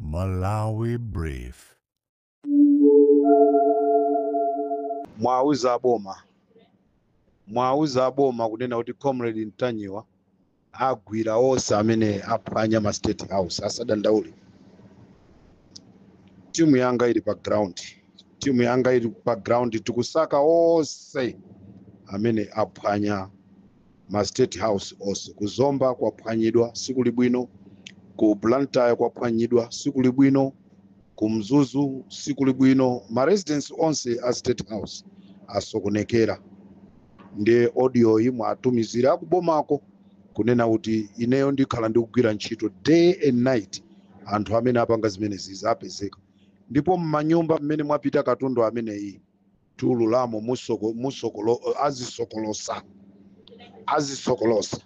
Malawi Brief. muwauze aboma muwauze aboma kunena kuti comrade ntanyiwa agwira onse amene aphwanya ma state house asadandaule timu yanga ili pa ground timu yanga ili pa ground tikusaka onse amene aphwanya ma state house onse ku zomba kwaphwanyidwa sikuli bwino ku blantyre kwaphwanyidwa sikuli bwino ku mzuzu sikuli bwino ma residence onse a state house asokonekera ndiye audio yi muwatumizire akubomako kunena kuti ineyo ndikhala ndikugwira ntchito day and night anthu amene apanga zimenezizi apezeka ndipo mmanyumba mmene mwapita katundu ameneyi tiululamo musoko, musokolo, azisokolosa azisokolosa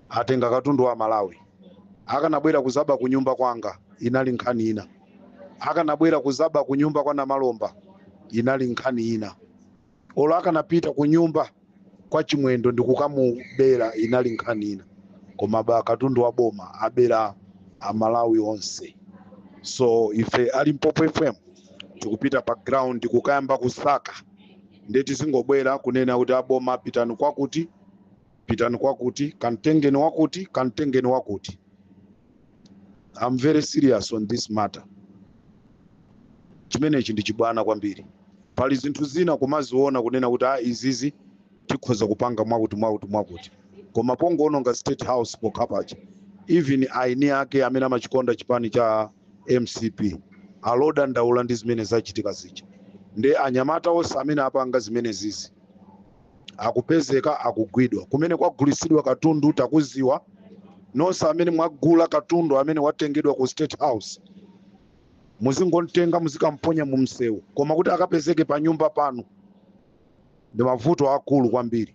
atenga katundu wa amalawi akanabwera kuzaba kunyumba kwanga inali nkhani ina akanabwera kuzaba kunyumba kwa namalomba inali nkhani ina olo akanapita kunyumba kwa chimwendo ndi kukamubera inali nkhani ina koma aba katundu wa boma abera amalawi onse so ife a limpopo fm tikupita pa ground kukayamba kusaka ndiye tizingobwera kunena kuti aboma pitani kwakuti pitani kwakuti kamtengeni wakuti kamtengeni wakuti I'm very serious on this matter chimenechi ndi chibwana kwambiri pali zinthu zina kumaziona kunena kuti a izizi tikhoza kupanga mwakuti mwakuti mwakuti koma pongoononga state house pokhapacha even aini ake amene amachikonda chipani cha mcp ali odandaula ndi zimene zachitika zija ndiye anyamata onse amene apanga zimenezizi akupezeka akugwidwa kumene kwagulitsidwa katundu takuziwa nonse amene mwagula katundu amene watengedwa ku state house muzingomtenga muzikamponya mu msewu koma kuti akapezeke pa nyumba panu ndi mavuto akulu kwambiri